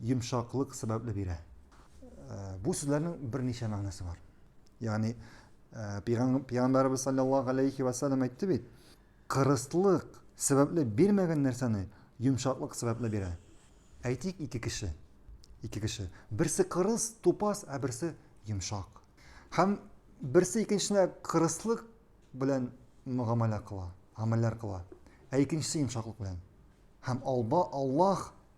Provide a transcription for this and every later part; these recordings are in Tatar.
йомшаклык сәбәпле бирә. Бу сүзләрнең берничә мәгънәсе бар. Ягъни пәйгамбәрбез саллаллаһу алейхи ва саллям әйтте бит, кырыслык сәбәпле бирмәгән нәрсәне йомшаклык сәбәпле бирә. Әйтик, ике кеше. Ике кеше. Берсе кырыс, тупас, ә берсе йомшак. Һәм берсе икенчесенә кырыслык белән мөгамәлә кыла, гамәлләр кыла. Ә икенчесе йомшаклык белән. Һәм Аллаһ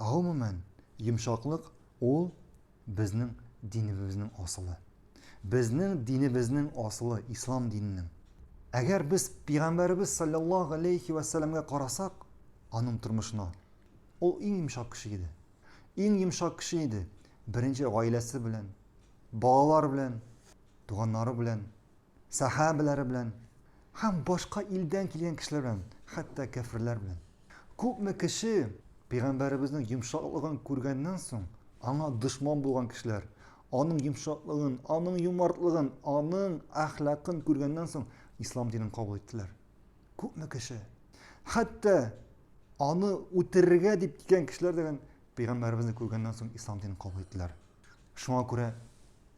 Гомумән, йомшаклык ул безнең динебезнең асылы. Безнең динебезнең асылы, ислам диненең. Әгәр без Пигамбәребез салләллаһу галәйһи вә сәләмгә карасак, аның тормышына, ул иң йомшак кеше иде. Иң йомшак кеше иде. Беренче гаиләсе белән, балалар белән, туганнары белән Сәхабәләре белән һәм башка илдән килгән кешеләр белән, хәтта кәферләр белән. Күпме кеше, пәйгамбәребезнең йомшаклыгын күргәннән соң, аңа дошман булган кешеләр, аның йомшаклыгын, аның юмартлыгын, аның әхлакын күргәннән соң, ислам динен кабул иттеләр. Күпме кеше, хәтта аны үтерергә дип килгән кешеләр дигән пәйгамбәребезне күргәннән соң, ислам динен кабул иттеләр. Шуңа күрә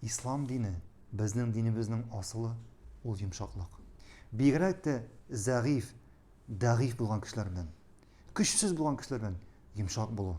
Ислам дине, безнең динебезнең асылы, ул йомшаклык. Бигрәк тә зәгыйфь, дәгыйфь булган кешеләр белән, көчсез булган кешеләр белән йомшак булу.